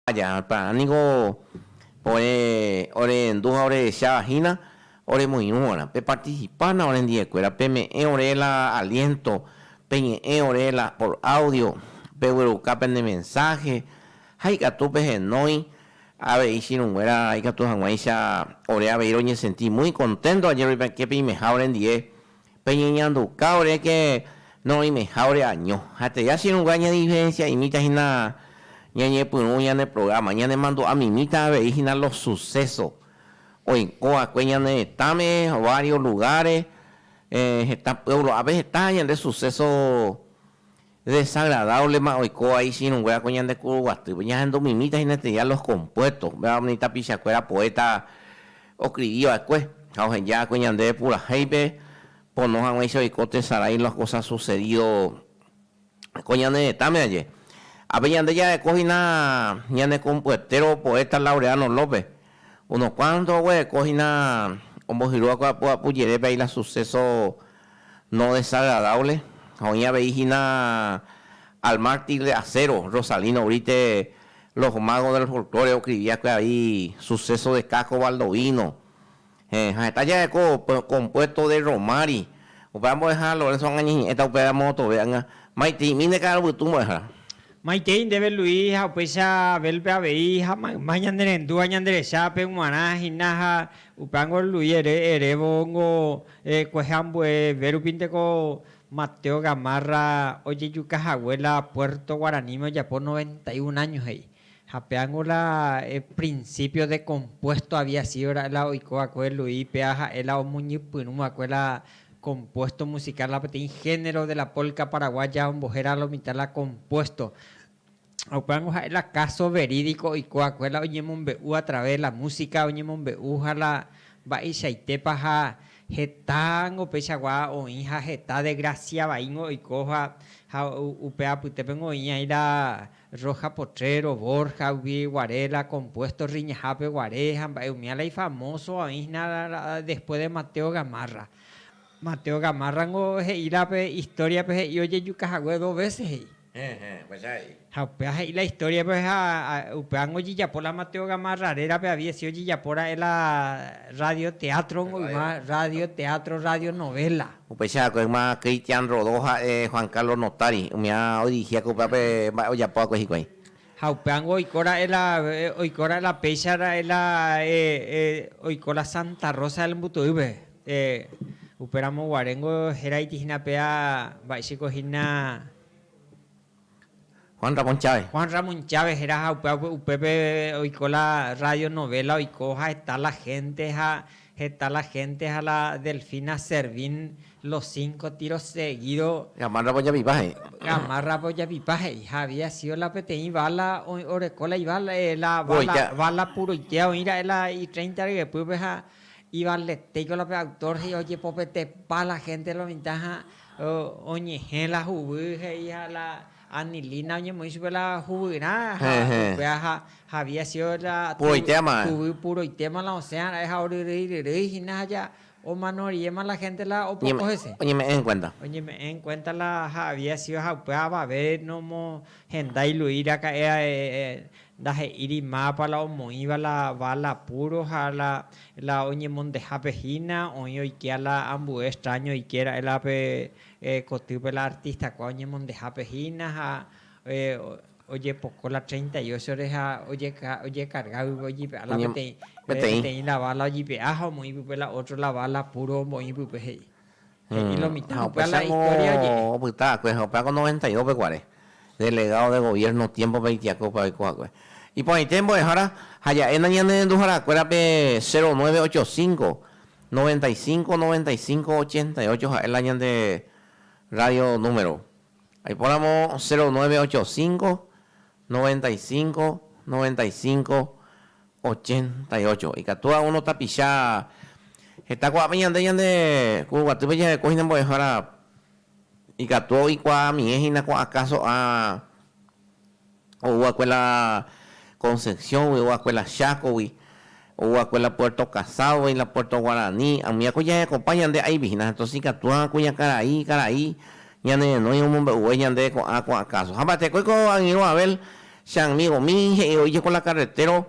Ajáta niko ore orehendu ha orehecháva hína oremoirũ va'erã. Peparticipa-na orendiekuéra, peme'ẽ ore la aliento, peñe'ẽ ore la por audio, pegueruka pende mensaje ha ikatu pehenói avei chirũnguéra ikatu hag̃uáicha ore avei roñesenti muy contento añeroipyake peimeha orendie Peñeñanduka oréke noĩmeha ore año. Aterei achirũnga ñadiferensiaimíta hína ñañepyrũ ñane programa, ñanemandu'a mimíta avei hína los suceso oiko va'ekue ñane retãme, varios lugares, heta pueblo, ápe heta ñande suceso Desagradablema oiko vai ichirũnguéra ko ñande kuru guatýpe. Ñahendu mimíta hína estudia los compuestos, upéva umi tapichakuéra poeta oscribi va'ekue ha ohenja va'ekue ñandéve purahéipe pono hag̃uáicha oiko tesarái los cosas sucedido ko ñane retãme aje. Ha pe ñande jareko hína ñane compuetero poeta Laureano López, unos cuantos oguereko hína ombohyru va'ekue apu apu jerépe ahí la suceso, No desagradable ha oĩ avei hína Al mártir de acero, Rosalino Brite, Los magos del folklore ocrivia que avei Suceso de Caco Baldovino, ha heta jareko compuesto de Romari. Upéva mbo'ehára Lorenzo ág̃a ñeñe'ẽta upéva moõtove ág̃a, Maitei'mi nde ka'arupytũ mbo'ehára. Maitei ndéve Luis ha upéicha Abel-pe avei ha mayma ñane rendúva ñande rechápe g̃uarã hína ha upévango Luis ere erévongo Kuehe ambueve rupínte ko Mateo Gamarra ojejuka hague la Puerto Guaraní-me ojapo noventa y un año he'i. Ha péango la principio de compuesto había sido ra'e la oiko va'ekue Luis péa ha'e la omoñypyrũ va'ekue la compuesto musical la peteĩ género de la polca paraguaya ombohéra la mitad la compuesto. ha upévango ha'e la káso verídiko oikuaakue la oñemombe'u a través de la músika oñemombe'u ha la mba'eichaitépa ha hetángo peichagua oĩ ha heta desgrasia vaíngo oiko ha ha upe apytépengo oĩ aĩ la Rojas Potrero, Borjagui guare, la Compuesto Riñahápe guare ha mba'e umía la ifamoso oĩ hína la después de Mateo Gamarra. Mateo Gamarra ningo he'i la pe historiape he'i ojejuka hague dos veces he'i. Ha upéva he'i la historia-pe ha upévango ojejapo la Mateo Gamarra rérape aviece ojejapora'e la radio teatro omoyma radio teatro radio novela. Upéicha va'ekue yma Cristian Rodó ha'e Juan Carlos Notari, umiha odirigíakue upévape mba'e ojapo va'ekue hikuái. Ha upévango oiko ra'e la, oiko ra'e la péicha ra'e la oiko la Santa Rosa del Mbutu'ýpe. Upéramo guaréngo heraiti hína péa mba'éichiko hína. Juan Ramón Chávez. Juan Ramón Chávez héra ha upéva upépe oiko la Radio Novela oiko ha heta la hénte ha Heta la hénte ha la Delfina Servín los cinco tiros seguidos. Gamárra vojapipa he'i. Gamárra vojapipa he'i. Ha había sido la peteĩ bala, oreko la ibala, la bala, bala puroitéva oĩ ra'e la i treinta ryepýpe ha ivaletéiko la pe autor he'i ojepopetepa la hénte lo mitã ha oñehẽ la huguy he'i ha la Anilina oñemoĩ chupe la juvyrã ha upéva ha había sido la juvy puroitéma la osẽva ra'e ha oryrýi ryrýi hína ha ja omano riéma la hénte la opoko hese. Oñeme'ẽ en kuénta. Oñeme'ẽ en kuénta la ha había sido ha upéva avave nomohenda iluí raka'e ndahe'íri mápa la omoĩva la vála púro ha la oñemondehápe hína oĩ oike la ambue extráño oike ra'e la pe Kotýpe la artistakuaa oñemondehápe hína ha ojepoko la treinta y ochore ha ojekarga guive ojipe'a la peteĩ la bala ojipe'a ha omoĩ pype la ótro la bala púro omboĩ pype, he'i. He'i lo mitã. Ha upéicharamo la istória oje'e. Opyta va'ekue ha upéva ko noventa y dos-pe guare, delegádo de goviérno tiémpope oitiako upéva oiko va'ekue. Iporãite mbo'ehára, jaja'éna ñane renduharakuérape cero nueve ocho cinco, Noventa y cinco, noventa y cinco, ochenta y ocho ha'e la ñande radio número. Aipóramo cero nueve ocho cinco, noventa y cinco, noventa y cinco, ochenta y ocho. Ikatúva uno tapicha heta kuaápe ñande ñande kurguatýpe jarekói hína mbo'ehára ikatu oikuaamie hína kuaã káso'a. Oúakue la Concepción-gui, oúakue la Chaco-gui, oúakue la Puerto Casado y la Puerto Guaraní. Ambuéako jahekopa ñande aivihína, entonces ikatúva kuña karai, karai ñane renói omombe'uve ñande ko'ã ko'ã káso. Ha mba'etekói ko angirũ Abel che amigomi he'i oíje ko la carretero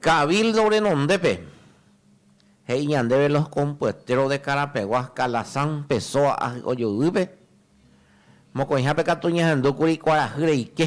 Cabildo renondépe, he'i ñandéve los compueteros de Carapegua, Calazán, Pessoa ahy'ojoyguýpe, mokõihápe katu ñahendúkuri kuarahy reike.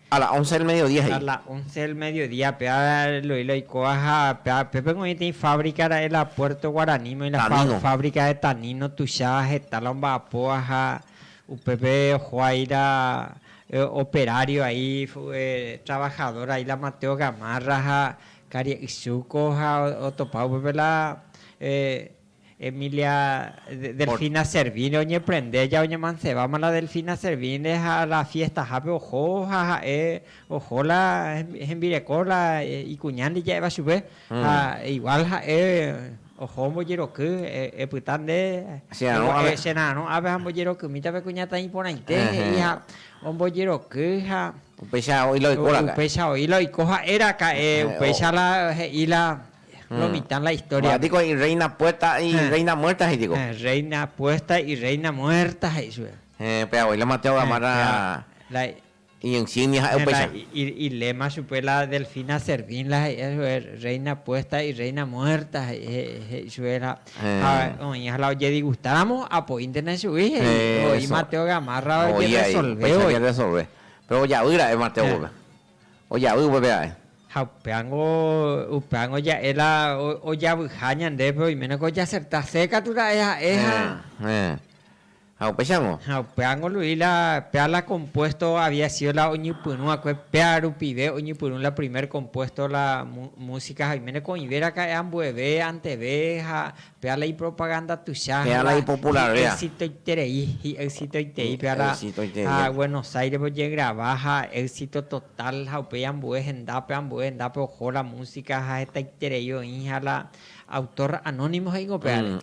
A la once del mediodía he'i. A la once del mediodía pe ára Eloy la oikóva ha pe ára pépe oĩ peteĩ fábrica ra'e la Puerto Guarani moi la fábrica de tanino tuicha heta la omba'apóva ha upépe oho ahí la operario ahí trabajador ahí la Mateo Gamarra ha Karia'y Zuko ha otopa upépe la Emilia, Delfina Servine oñeprende ja oñemansebáma la Delfina Servine ha la fiestahápe oho ha ha'e oho la hembireko la ikuña nde ja'éva chupe ha igual ha'e oho ombojeroky epyta nde chera'arõ ápe ha ambojerokymíta pe kuñataĩ iporãite he'i ha ombojeroky ha upéicha oĩ la oiko ha'e raka'e upéicha la he'i la Lo mitã la historia. Ko'ã niko irreina puesta ha irreina muerta he'i tiko. Reina puesta ha irreina muerta he'i chupe. Héẽ, pe abuelo Mateo Gamarra iñinsignia ha'e upéicha. Ilema chupe la Delfina Servín la he'i chupe, reina puesta ha irreina muerta he'i chupe la ha oĩha la ojedigustáramo apoíntena chugui he'i. Oĩ Mateo Gamarra ojerresolve voi. Oĩ añeteresolve. Péro ojaýra'e Mateo-pe. ojavy upépe ae. Ha upévango, upévango ja'e la ojavyha ñandépe, oiménako ojaserta se katu ra'e ha'e ha. Héẽ, héẽ. Ha upéichango. Ha upévango Luis la péa la compuesto había sido la oñypyrũ va'ekue, péa rupive oñypyrũ la primer compuesto la música ha oiméneko oĩve raka'e ambueve, anteve ha. Péva la ipropaganda tuicha hag̃ua hi'exitoiterei, hi'exitoiterei péva la ha Buenos Aires-pe ojegrava ha éxito total ha upéi ambue hendápe, ambue hendápe oho la música ha hetaiterei oĩ ha la autor anónimo he'íngo pévare.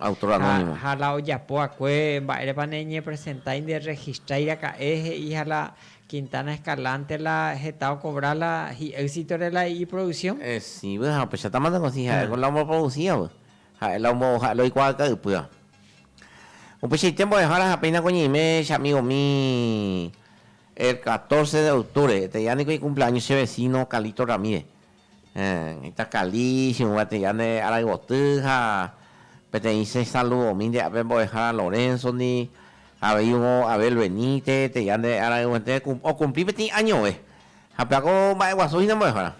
Ha la ojapo va'ekue mba'érepa neñepresentái, nderregistrái raka'e he'i ha la Quintana Escalante la heta okovra la hi'exitore la iproducción. Esĩve ha upéichatama nde gotyo ha'éko la omboproducíva. Ha'e la ombo'o ha'e la oikuaa ka'ypýa. Upeichaite mbo'ehára ha péinako ñeime che amigo umi el 14 de octubre eteia niko ikumpleaños che vecino Carlito Ramírez. Heta Carli chegúva eteia nde arayvoty ha peteĩ che saludomi nde ape mbo'ehára Lorenzo-ndi, aveirõ Abel Benítez eteia nde arayvoete okumpli peteĩ añove. Ha peko mba'eguasu hína mbo'ehára.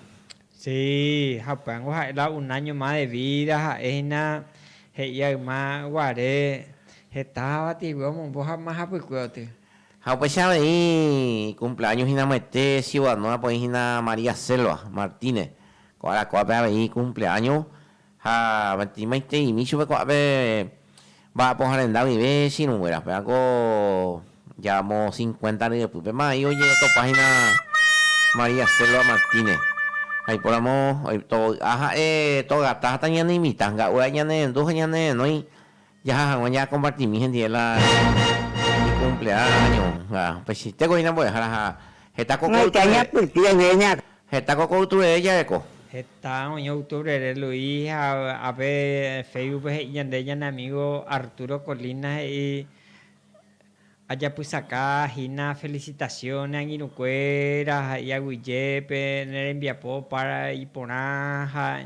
Sí, ha upévango ha'e la un áño más de vída, ha'e hína he'i a yma guare heta havatĩgui omombo ha mahapykue oty. Ha upéicha avei ikumpleáño hína moete siudadnórape oĩ hína María Selva Martínez, ko arakuápe avei ikumpleáño Ha avatimaiteimi chupe ko'ã pe mba'apoha renda guive chirũnguéra. Pévako jaamo cincuenta ryepy. Péma aĩ oñe'ẽtopa hína María Selva Martínez. Ha ipóramo tovy'a ha'e togata ha tañaneimitã. Nga'u aja ñanehendu ha ñanehenói Jaha hag̃ua jaakompartimi hendive la ikumplea áño ha upeichaitéko hína mbo'ehára ha heta koko ytúre heta koko ytúre jareko. Heta oĩva octubre re Luis ha ápe Facebook pe he'i ñande ñane amigo Arturo Colina he'i Ajapysaka hína felicitación ne angirũkuéra ha'i aguyjépe ne rembiapo pára iporã ha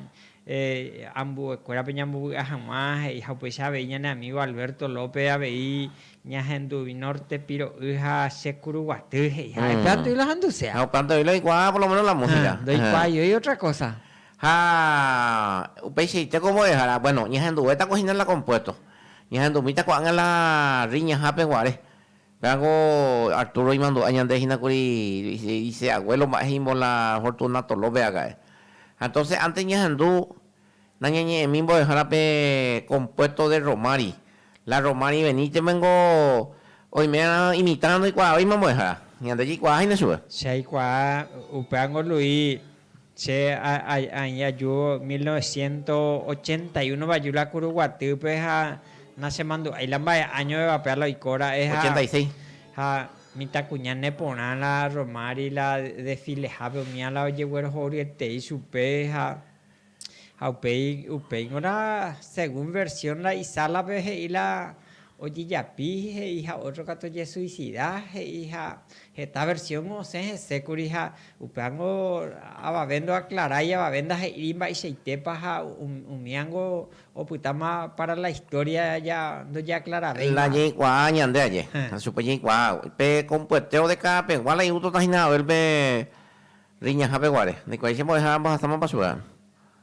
ambuekuérape ñambovy'a hag̃ua he'i ha upéicha avei ñane amigo Alberto López avei ñahendu Norte piro'y ha che kuruguaty he'i ha'épe atýi la handusea. Ha upévante oĩ la oikuaa por lo menos la música. Ndoikuaaiói otra cosa. Ha upeichaite ko mbo'ehára, bueno, ñahenduvéta ko hína la compuesto. Ñahendumíta ko'ág̃a la riñahápe guare. Pévako Arturo imandu'a ñande hína kuri ise aguélo mba'e he'ímbo la Fortunato López aka'e. Ha entóse ántes ñahendu nañañe'ẽmi mbo'ehára pe kompuésto de Rromari. La Rromari veníteme niko oimérõ imitãrõ ndoikuaávéima mbo'ehára. Ñande jaikuaaháina chupe. Che aikuaa, upéva niko Luis Che aĩ aju mil novecientos ochenta y uno-pe aju la kuru guatýpe ha nachemandu'ái la mba'e áñovevape ala oiko ra'e ha Ochenta y seis. ha mitãkuña neporã la Romári la desfilehápe umi ala ojeguerohoryetei chupe ha ha upéi upéi ngorã según versión la isálape he'i la ojejapi he'i ha ótro katu ojesuisida he'i ha heta versión osẽ hese kuri ha upévango avave ndoaklarái avave ndahe'íri mba'eichaitépa ha umíango opytáma pára la história ndojeaklaravéima. Jaikuaa ñande aje, ha chupe jaikuaa pe kompueteo de káda pegua la iutóta hína Abel pe riñahápe guare. Ndaikuaái che mbo'ehára mbohasámapa chupe.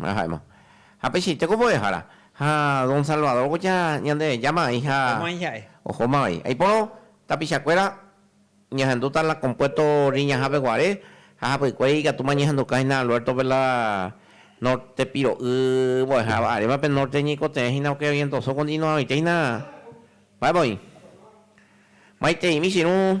Ha ha'éma, Japechaite ko mbo'ehára, ha don Salvador ko ja Ñandejáma vai ha ohóma vai. Aipórõ tapichakuéra ñahendúta la compuesto Riñahápe guare ha hapykuéri ikatúma ñahendukã hína Alberto-pe la norte piro'y mbo'eháva aréma pe norte ñaikotevẽ hína ok orientosõ continuadoite hína mba'épa oĩ. Maiteĩmi che irũ.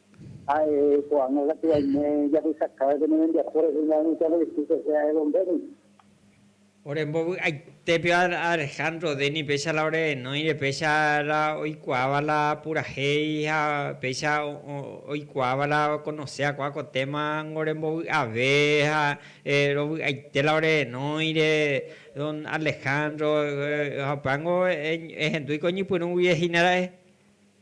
Ha'e ko'ág̃a katu aime jahechakãve pene rembiapo rehe ña Anita Lorenzo José ha'e Don-Denny. Ore mbovy'aitépe Alejandro Denny péicha la ore enóire péicha la oikuaáva la purahéi ha péicha oikuaáva la okonose hakuã ko téma niko rembovy'ave ha rovy'aite la ore enóire Don Alejandro ha upéva niko ehendúi ko ñepyrũgui ehína ra'e.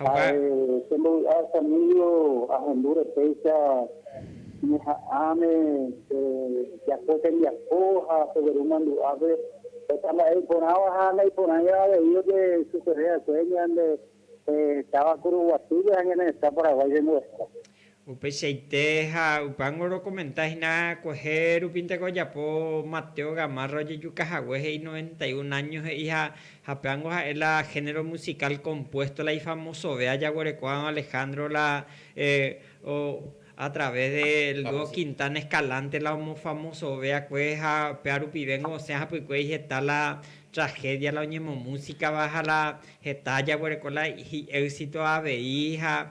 Ha'e che mbovy'a Stanilio ahendu repéicha ñeha'ãme japo tembiapo ha peveru mandu'ápe heta mba'e iporãva ha naiporãiva avei oje sucede va'ekue ñande táva Kuruguatýpe ha ñane retã Paraguái rembo'eheka. Upeichaite ha upángo orocomenta hína kuehe rupínte ko ojapo Mateo Gamarra ojejuka hague he'i noventa y un años he'i ha hapéango ha'e la género musical compuesto la ifamosove ajaguereko'ãva Alejandro la o a través del dúo Quintana Escalante la omofamosove akue ha péa rupivéngo osẽ hapykue iheta la tragedia la oñemomusicava ha la heta ajaguereko la hi'éxito avei ha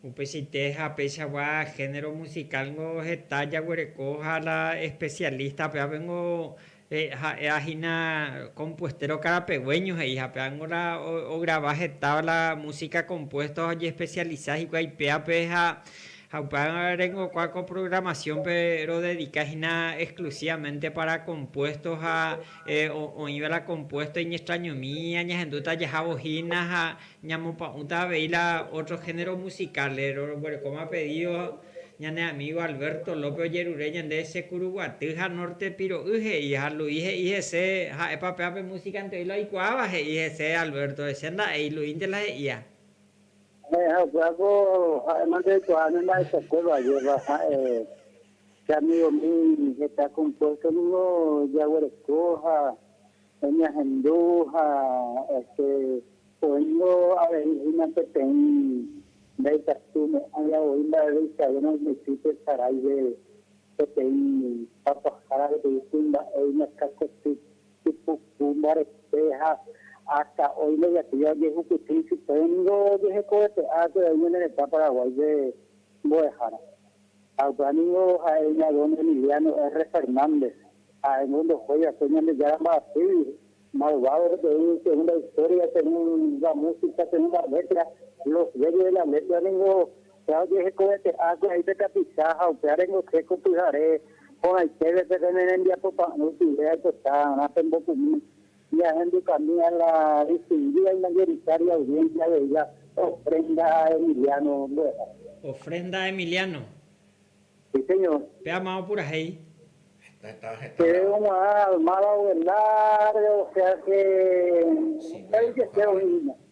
Upeichaite ha péichagua género musical ningo heta jaguereko ha la especialista pe ape ningo ha'éva hína compuestero karapegueño he'i ha péva ningo la ograva hetáva la música compuesto ha ojespecializa hikuái péape ha upéva rengokua ko programación-pe rodedika hína exclusivamente para compuesto ha oĩva la compuesto iñextrañomi añahendúta jahávo hína ha Ñamopa'ũta avei la ótro hénero musikál. Roguerekóma pedído ñane amígo Alberto López ojerure ñande Che Kuruguaty ha Norte Piro'y he'i ha Luis he'i hese ha'épa péva pe músikante oílo aikuaáva he'i hese Alberto che nda'éi, Luisnte la he'ía. Che ha'ekuéra ko ha'éma ndeikuaa ne mba'eichakue va'éva ha'e che amigomi heta compuesto ningo jaguereko ha Oñehendu ha este oĩvo avei hína peteĩ ndaikatu mo'ãiva voi mba'eve ikavérõ oñotỹ pe saráive peteĩ papahára peteĩ kuimba'e iñakãkoty, ipuku, mbarete ha ásta oĩ ndojatýiva ojehupyty ichupe ningo ojehekovete'akue'aí ñane retã Paraguáipe mbo'ehára. Ha upéva ningo ha'e ña don Emiliano R. Fernández, ha'éngo ndohói va'ekue Ñandejára mba'asýgui, malvado peteĩ según la historia, según la música, según la letra, los dueños de la letra ningo upéva ojehekovete'ákue ahí pe tapicha ha upéva rengoséko pyhare porãitépe pene ne rembiapopa'ỹ ojuve aipota, pembopumi. Ñahendukami a la distingida y mayoritaria audiencia de ella ofrenda a Emiliano mbo'ehára. Ofrenda a Emiliano. Sí señor. Péama opurahéi. Chéve ogua'ã almada oguenda re o sea que, upéi jepe oĩ hína.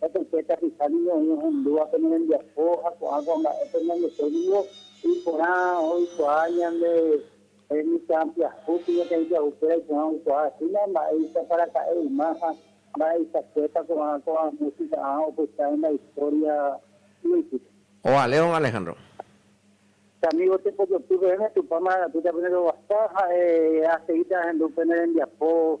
ha tape tapicha ningo oĩ ohendúva pene rembiapo ha ko'ã ko'ã mba'e pe ñandepo ningo iporã oikuaa ñande mitã pyahu kuñakaĩ pyahukuéra iporã oikuaa hína mba'éicha pa raka'e yma ha mba'eichakuépa ko'ã ko'ã músika ã opyta henda istória yvýpe. Oa, León Alejandro. Che amigo tepojopy peẽme Tupã marangapýta pene roguasa ha'e aseíta ahendu pene rembiapo.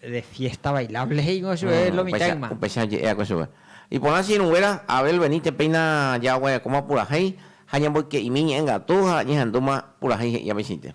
De fiesta bailable he'i ko chupe lo mitad ima. Upéicha oje'éa ko chupe. Iporã che irũnguéra, Abel venite péina jaguarekóma purahéi ha ñamboyke'imi ñe'ẽ gatu ha ñehendúma purahéi he'i aveichaite.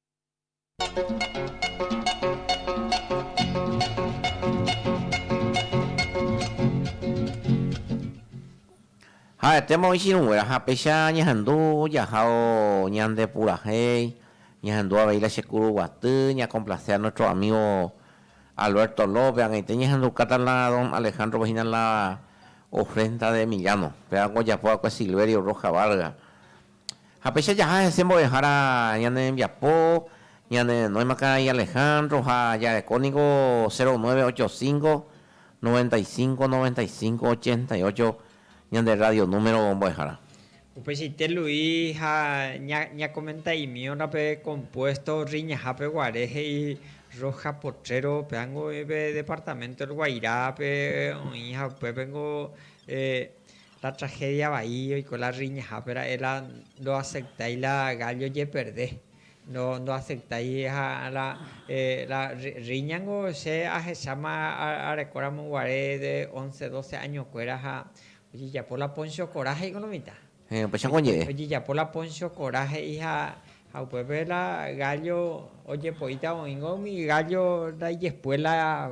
Ha'etéma oĩ chirũnguéra ha péicha ñahendu jahao ñande purahéi, ñahendu avei la che kuru guaty, ñakomplase a nuestro amigo Alberto López, ag̃aite ñahendukáta la don Alejandro-pe hína la ofrenda de Emiliano, péva ojapo va'ekue Silverio Rojas Vargas, Ha péicha jaha hese mbo'ehára ñane rembiapo, ñane renóima karai Alejandro ha jareko niko cero nueve ocho cinco, noventa y cinco, noventa y cinco, ochenta y ocho ñande radio número mbo'ehára. Upeichaite Luis ha ñakomenta'imíorã pe compuesto Riñahápe guare he'i Rojas Potrero peángo oĩ pe departamento El Guairá-pe oĩ ha upépengo La tragedia vai oiko la riñahápe ra'e la ndoaceptái la gallo jeperde, ndoaceptái ha la la riña niko che ahecháma arekóramo guare de once, doce año kuéra ha ojejapo la Poncio Corá he'íko lo mitã. Héẽ, upéicharõ oñe'ẽ. Ojejapo la Poncio Corá he'i ha upépe la gallo ojepo'íta oĩngo umi gallo la ijespuela.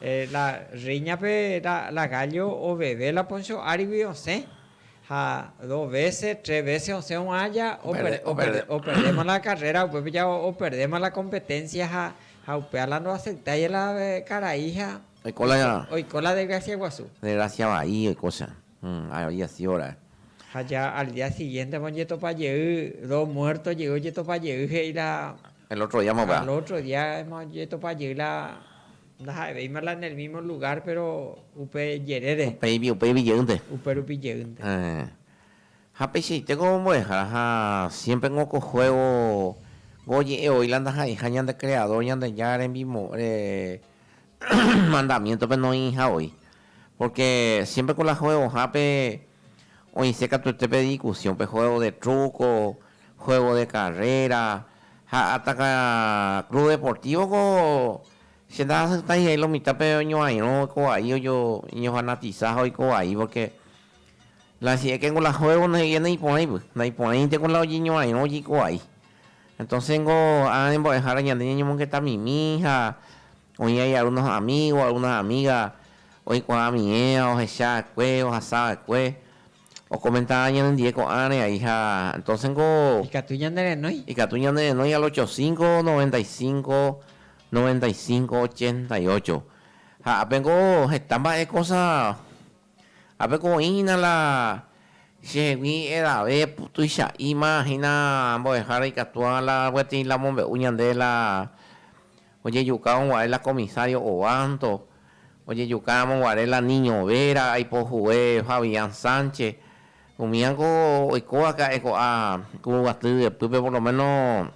La rréiñape la gállo oveve la Poncho árigui osẽ, ha dos vése, tres vése osẽ oguãja operdéma la karréra, upépe ja operdéma la kompeténsia ha upéva la ndoaseitái la karaiha oiko la desgrasia guasu. Desgrasia vai oikócha, avei asi ora'e. Ha ja al día siguiénteva oñetopa jey, dos muérto jey oñetopa jey, he'i la. El otro día mogueha. Al otro día ojetopa jey la ndaha'evéima la en el mismo lugar péro upe jerére. Upéipi, upéipi jeýnte. Upérupi jeýnte. Héẽ. Ha peichaite ko mbo'ehára ha siempre ko ko juego ko oje'e oĩ la ndaha'eiha ñande Creador Ñandejára rembimo re mandamiento-pe noĩiha oĩ. Porque siempre ko la juego-hápe. Oĩse katu este pe discusión, pe juego de truco, juego de carrera, ha ataka club deportivo ko che ndahasyitai ha'e lo mitã pe oñoairõ ko vai ojo oñofanatiza ha oiko vai porque la si es que ko la juego no he'íva ndai porãi py, ndai porãi inte ko la ojeñoairõ ojeiko vai. Entonces ko ha rembo'ehára ñande ñañomongeta mimi ha Oĩ ahí algunos amigos, algunas amigas oĩkuaa ami'ẽva, ohecha'ekue, ohasava'ekue, okomenta'ã ñanendie ko'ãre ahí ha entonces niko. Ikatu ñanerenói. Ikatu ñanerenói al ocho cinco, noventa y cinco, noventa y cinco, ochenta y ocho. Ha ápe niko heta mba'e cosa, ápe ko oĩ hína la chehegui edave tuicha'íma hína mbo'ehára ikatúva la peteĩ la omombe'u ñande la Ojejuka onguare la comisario Obanto, ojejuka ramo guare la niño Vera, aipo jugue Fabián Sánchez, umi ango oiko vake ha'e ko'a Kuruguaty yepýpe por lo menos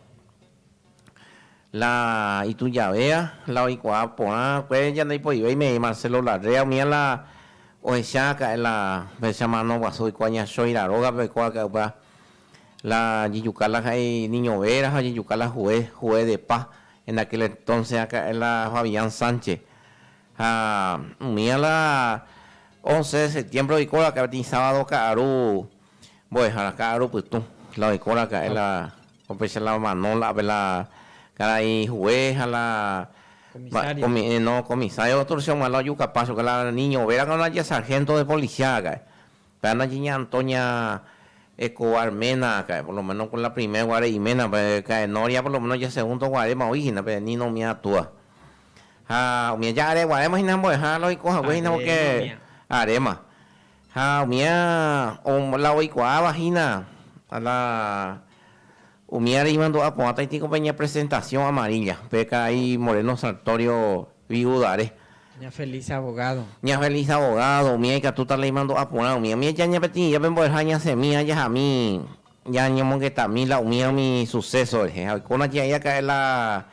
la itujavéva la oikuaa porã va'ekue ñande ipoive imei Marcelo Larrea umía la ohecha vake ha'e la mano guasu oiko aña Choira rógape oiko vake ha'e upéva La jejuka la ha'e iñovera ha ojejuka la hue, hue de paz, en aquel entonce aka'e la Fabián Sánchez. Ha umía la once de septiembre oikóva aka'e peteĩ sábado ka'aru mbo'ehára, ka'aru pytũ, la oikóra aka'e la opecha la mano la ápe la karai hue ha la comisario, no, comisario torcion hag̃ua la ojuka paz chupe la niño vera, la sargento de policía aka'e. Pe Ana Jiña Antonia Escobar Mena kae, por lo menos con la primer guare imena pe kae noria por lo menos ya segundo guarema oĩ hína pe Nino Omia túa. Ha umi aja are guarema hína ambo'eha la oiko hague hína porque arema. Ha umía la oikuaáva hína la Umi ára imandu'a ko'ãta itíko pe ñapresentasiõ amarilla, pe karai Moreno Sartorio viudare. Ña Feliz abogado. Ña Feliz abogado, umi aikatúta la imandu'a porã umi. Umi aja ñapeteĩja pe mbo'eha ñasẽmi ajahami ñañomongetami la umíva umi suceso rehe. Ha oikórõ che aĩ aka'e la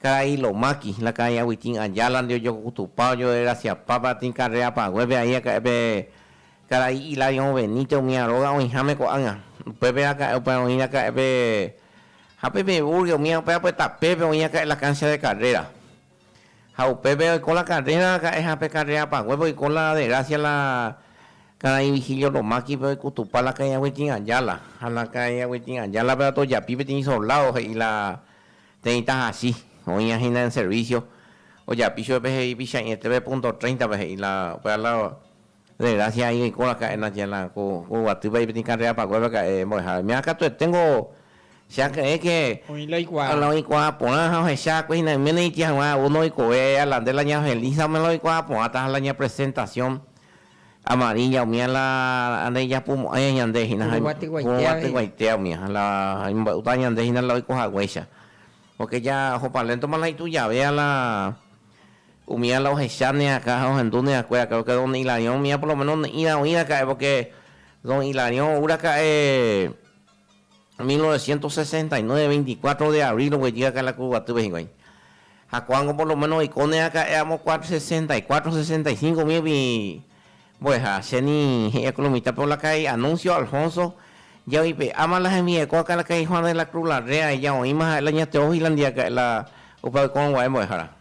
karai Lomaki, la karai Agustín Ayala-nde ojokokutupá, ojoderasiapá pe atĩ carrera-paguépe aĩ aka'e pe Karai Hilarión Benítez umíva róga oĩháme ko'ág̃a. Upépe raka'e upéva oĩ raka'e pe ha pe Meburgue umíva upéva pe tapépe oĩ raka'e la cancha de carrera. Ha upépe oiko la carrera raka'e ha pe carrera paguépe oiko la Degracia la karai Vigilio Lomákipe oikutupa la karai Agustín Ayala. Ha la karai Agustín Ayala péva tojapi peteĩ soldado he'i la térei tahachi oĩva hína en servicio ojapi chupe pe he'i Pychãi etépe punto treinta-pe he'i la upéva la De grásia aĩ reikóraka'e Natiana ku ku guatýpa ipetĩ karréra pakuéveka'e mbo'ehára. Umi ára katueténgo che aky'ẽ ke Oĩ la oikuaa. la oikuaa porã ha ohecha akue hína yméne itĩ haguã ou ndoikove ala nde la ña Felisa omela oikuaa porãta ha la ña presentasiõ amarílla umi ala andei japumo'ãi ñande hína ha Purúva tyguaitéa purúva veí. tyguaitéa umi ha la imba'yta ñande hína la oiko haguéicha. Póke ja oho paléntoma la itujave ala Umi ala ohecha neakã ha ohendu neakue akã porque don Hilarión mía por lo menos ne'ĩra oĩ raka'e porque don Hilarión ou raka'e 1969 24 de abril oguejy akã la Cruz Guatýpe hikuái ha ko'ág̃o por lo menos oiko neaka'e amo kua 64, 65 míigui mbo'eha che ni he'i akã lo mitãpe olaka'e Anuncio Alfonso javype'áma la hembi'eko akã laka'e Juan de la Cruz Larrea ella oĩma ha'e la ña Teófila ndive aka'e la upe oikórõ gua'e mbo'ehára.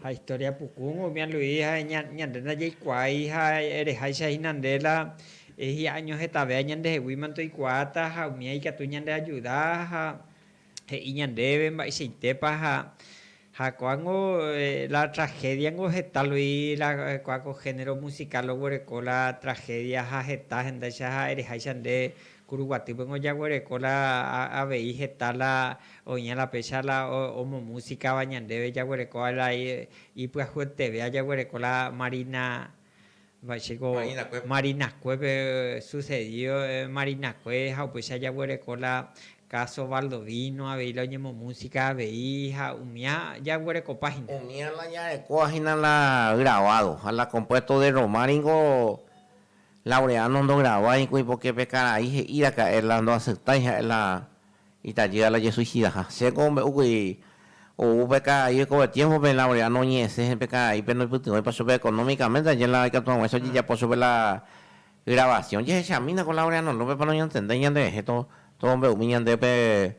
Ha historia pukúgui umi aluí ha ñande ndajaikuaái ha ereháicha hína nde la hi'a año hetavea ñandeheguíma ndoikuaáta ha umía ikatu ñandeajuda ha he'i ñandéve mba'eichaitépa ha ko'ág̃o la tragédiango heta lui la ko'ág̃o género musical oguereko la tragedia ha heta hendáicha ha ereháicha nde Kuruguaty peg̃ua ojaguereko la avei heta la oĩha la péicha la omomusikava ñandéve jaguerekóva la ipyahyetéve ajaguereko la Marina va'echéko Marinakuépe sucedido Marinakue ha upéicha ajaguereko la caso Baldovino avei la oñemomusika avei ha umía jaguerekopa hína. Umía la jarekóva hína la grabado ha la compuesto de Roma ningo Laureano ndogravái kuipoke pe karai he'íraka'e la ndoaceptái ha'e la itajýa la jesuicidaha. Chéko ombe'úkuri ou pe karai oikove tiempo pe Laureano oñe'ẽse pe karaípe ndoipytyvõipa chupe económicamente aje la ikatu haguãicha ojejapo chupe la grabación. Jehechamína ko Laureano López pa noñantendéi ñanderehe todo mbe'umi ñande pe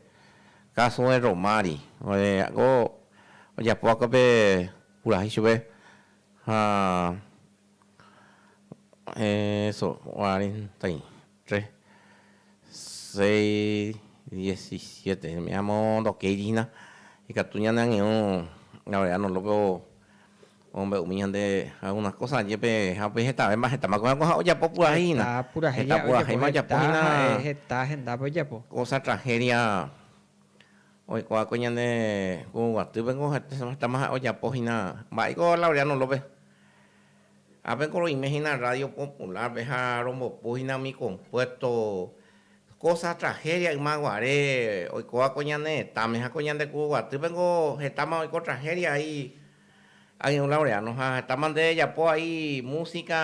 caso de Romari ore ko ojapo va'ekue pe purahéi chupe ha Eso, cuarenta y tres, seis, diecisiete, umi amo ndokéi hína ikatu ñane añe'õ la verda no lógro omombe'umi ñande algún kósa jepe ha upe hetave mba'ehetáma ko ápo ojapo purahéi hína. Heta purahéi ja'e ojapo hína. Heta ha'e heta hendápe ojapo. Kósa tragedia. Oikuaáko ñane kũ guatýpe niko hetaháma ha'e ojapo hína. Mba'éiko Laureano López? Ápeko roime hína Radio Popular-pe ha rombopu hína umi compuesto, cosa tragedia yma guare oikóva ko ñane retãme ha ko ñande kũ guatýpe niko hetáma oiko tragedia ai ag̃iu Laureano ha hetáma nde ejapo ai música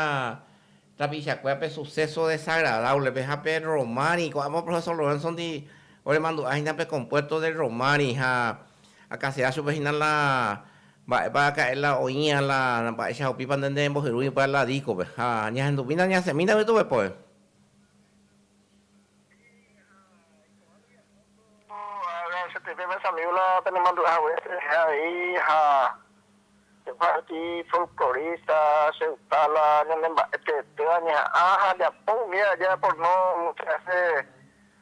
Tapichakuéra pe suceso desagradable pe ha pe Romari, ko'ãva Profesor Lorenzo ndi oremandu'a hína pe compuerto del Romari ha akãsea chupe hína la mba'épa aka'e la oĩva la mba'éichapa upípa nde nembohyrúi upe la disco-pe ha ñahendumína ñasẽmína umi tupepove. Agradecetépe mesa amigo la penemandu'a hague, che reheve avei ha. Jeparti folklorista cheuta la ñane mba'e teetéva ñeha'ã ha ajapo umíva aja aporno mucha vese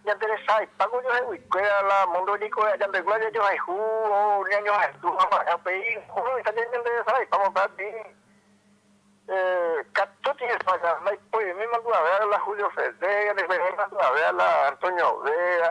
ñanderesaipa ko ñohegui kuéra la mundo niko ajandegua jajohayhu o ñañohayhu haguarã upéi ohóita ña ñanderesaraipa mopéati katu tiempo aja ndaipoimíma ndu'avéva la Julio Ferrer ñandepuerehéi mandu'avéva la Antonio Vera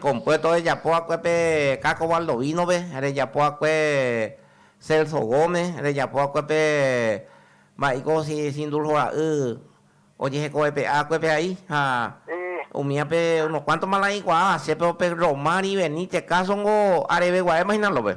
Kompuesto rejapo akue pe Caco Baldovinope, rejapo akue Celso Gómez, rejapo akue pe mba'éiko sindulhora'y ojehekovepe'a akue pe ai ha umía pe unos cuánto mala'ikuaa asépero pe Romari Benítez káso nko areveguaéma hína lópe.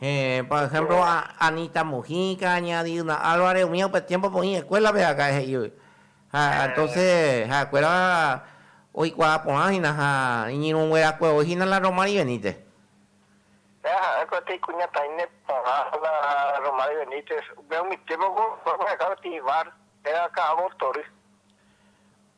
Héẽ, por ehémplo Anita Mujica, ña Diana Álvarez, umíva upe tiémpope oĩ eskuélape akã'e he'ígui. Ha entóse ha'ekuéra oikuaa porã hína ha iñirũnguerakue voi hína la Romari Benítez. Héẽ, ha'e kotevẽ ikuñataĩne porã la Romari Benítez. Upéva umi tiémpope oikuaa porãhekávo Tihivár, héra ka'avo tory.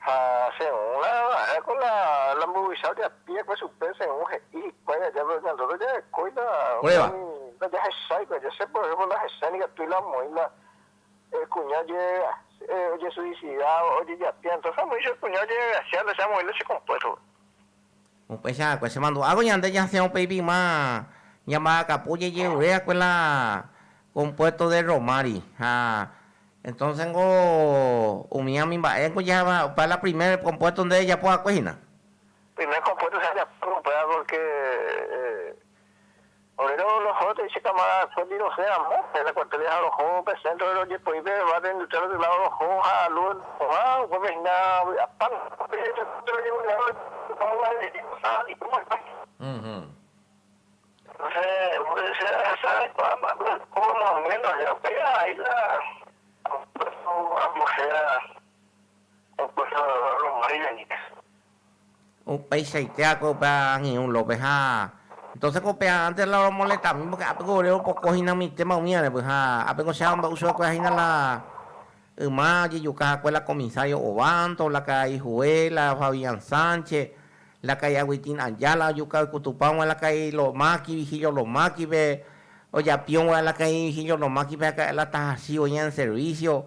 Ha según la vara con la la mburuvicha ojapi'akue chupe, según he'i hikuái aja pe oñandúta ojarekói la upémi ndajahecháikue aja. Che por ejemplo ndahechái nikatúi la omoĩ la kuña ojesuicida, ojejapi'a. Entonces amoĩ che kuña ojegracia la che amoĩ la che compuesto-pe. Upéicha va'ekue chemandu'ávo ñande jasẽ upéi pima ñamba'akapu jejeure va'ekue la compuesto de romári. Ha entonces niko umi ãmi mba'e niko jahaiva opa la primer compuesto nde rejapo va'ekue hína. Primer compuesto che ajapo upéva porque. Ore roho tei che cámara Félix rosẽ ramo en la cuartelia ha roho pe centro de rojepoi pe barrio industrial del lado roho ha luz oha upépe hína vy'apa Upeichaite akói upe angirũ lópe ha entonces ko upe antes la romoletamin porque ápe ko ore ropoko hina umi téma umi arepe ha ápe ko che amombe'u chupe kuéra hina la yma jejuka hakue la comisario Ovando, la karai Juve, la Fabian Sánchez, la karai Agustín Ayala ojuka oikutupã g̃uarã la karai Lomaki, Vigilio Lomakipe, ojapiõ g̃uarã la karai Vigilio Lomakipe ha ka'e la tahasývo ña en servicio.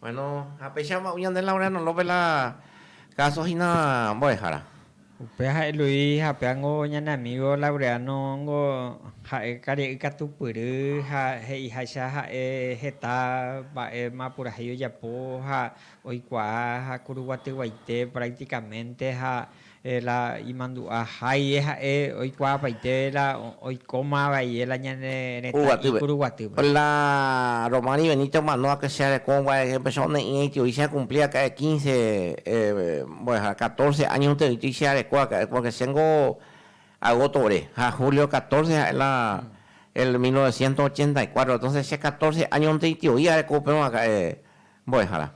Bueno, ha péicha amba'u ñande Laura Nolope la káso hína mbo'ehára. Upéva ha'e Luis ha upévango ñane amígo Laureano ningo ha'e karia'y katupyry ha he'iháicha ha'e heta mba'éma purahéi ojapo ha oikuaa ha kuruguatyguaite prácticamente ha La imandu'a haie ha'e oikuaapaite la oikóma vaie la ñane retã ipuru guatýpe. La Romani Benito omano ha che areko mbuae empeso one'ĩ eity oicha ekumpli aka'e quince mbo'ehára catorce año enteroiti che areko aka'e porque chéngo agosto ore ha julio catorce ha'e la el mil novecientos ochenta y cuatro entonces che catorce año nte itioi areko upéva aka'e. Mbo'ehára.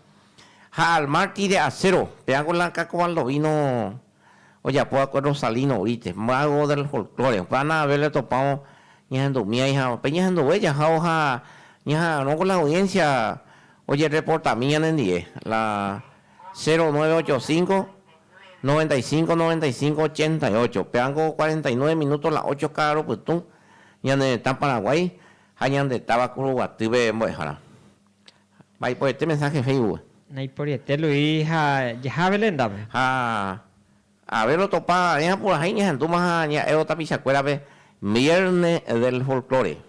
Ha al mar ti de acero, péa ko la Cacobaldo vino ojapo va'ekue Rosalino Brite, mago del folklore. Upe ána avei la topávo ñahendu miái ha pe ñahenduve jahávo ha ñaha'arõ ko la audiencia ojereportami ñanendie. La 0985 95 95 88, péa ko 49 minuto la ocho ka'arõ pytũ, ñane retã Paraguái ha ñande táva Kuruguatýpe Mbo'ehára. Ha iporete mensaje Facebook. Ha iporete Luis ha jaha Beléndape. Ha aver otopa ae apurahai ñahendúma ha ña'évo tapichakuérape Viernes del Folklore.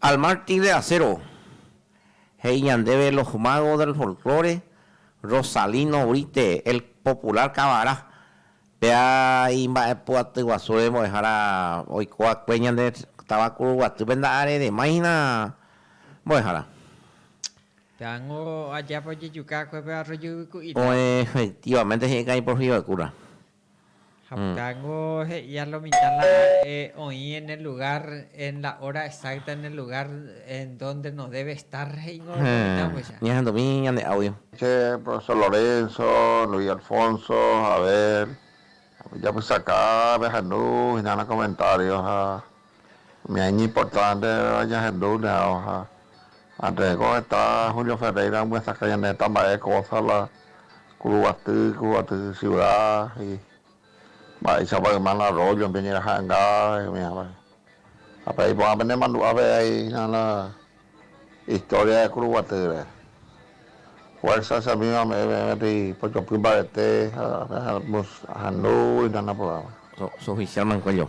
Al mártir de acero, he'i ñandéve Los magos del folklore, Rosalino Brite, el popular Kavara, péa imba'epu'atyguasúre mbo'ehára oikóva'ekue ñande táva Kuruguatýpe nda'areremáihina mbo'ehára. Peango ajápa ojejuka akuépe arroyo yvyku'i táva. Oĩ efectivamente he'i ka'aĩ por Fivacuda. Ha peango he'i a lo mitã la oĩ en el lugar, en la hora exacta, en el lugar en donde no debe estar he'ingo lo mitãguyja. Ñahendumi ñane audio. Che profesor Lorenzo, Luis Alfonso, Abel, japysaka pehendu hína la comentario ha Umi año importante jahendúne ao ha antes ko heta Julio Ferreira omyesakã ñane heta mba'e cosa la kuruguaty, kuruguaty ciudad y mba'éichapa yma la arroyo pe ñeraha'enga umi avei. Ha pe iporã pende mandu'a pe ai hína la historia de kuruguatýre. Fuerza che amigos ame'ẽ peẽ peteĩ pochopy mbarete ha peẽ ahendu hína naporãva. So'o oficial Mancuello.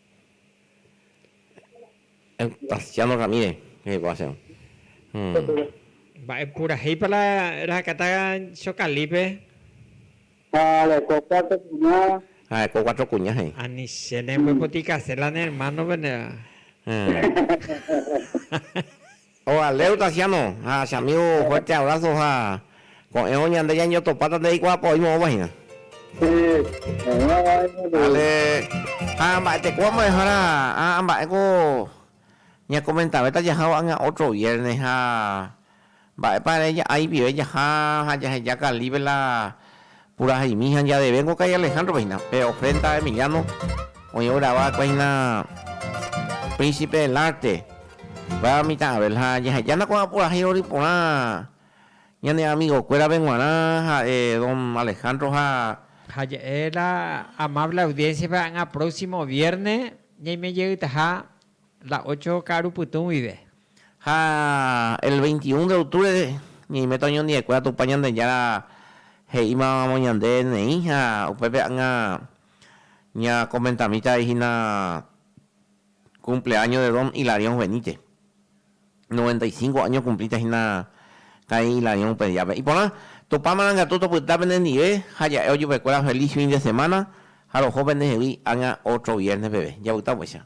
Eustasiano Ramírez rehegua chéve. Mba'e purahéipa la rehakata Chocalípe? Ha reko cuatro kuña. Ha reko cuatro kuña he'i. Ani che ne mbopotykase la ne hermano pene. Ovaleu Tasiano ha che amigo fuerte abrazo ha ko'ẽvo ñande ñañotopáta nde reikuaápa oĩ moõva hína. Vale ha mba'etekóva mbo'ehára ha mba'éko ñakomentavéta jaha ko'ág̃a otro viernes ha mba'épa ere ja'a ipive jaha ha jaheja Calípe la Puraheimi ha ñadevéngo ka'i Alejandro-pe hína, pe ofrenda Emiliano oĩ ograva va'ekue hína Príncipe del Arte, upéva mitã Abel, ha jahejána ko'ã purahéi rory porã ñane amigokuérape g̃uarã ha'e don Alejandro ha. Ha ja'e la amable audiencia-pe ha'énga próximo vierne ñaimejeytaha La ocho ka'aru pytũ guive. Ha el veinti un de octubre ñaiméta oñondive'ekuéra Tupã Ñandejára he'ímavamo ñande neĩ ha upépe ág̃a ñakomentamíta hína cumpleaño de don Hilarión Benítez. Noventa y cinco áño okumplíta hína karai Hilarión upe díape. Iporã, Tupã marangatu topyta penendive ha ja'e ojupekuéra feliz fin de semana ha roho pendehegui ág̃a ótro viérne peve. Japyta upéicha.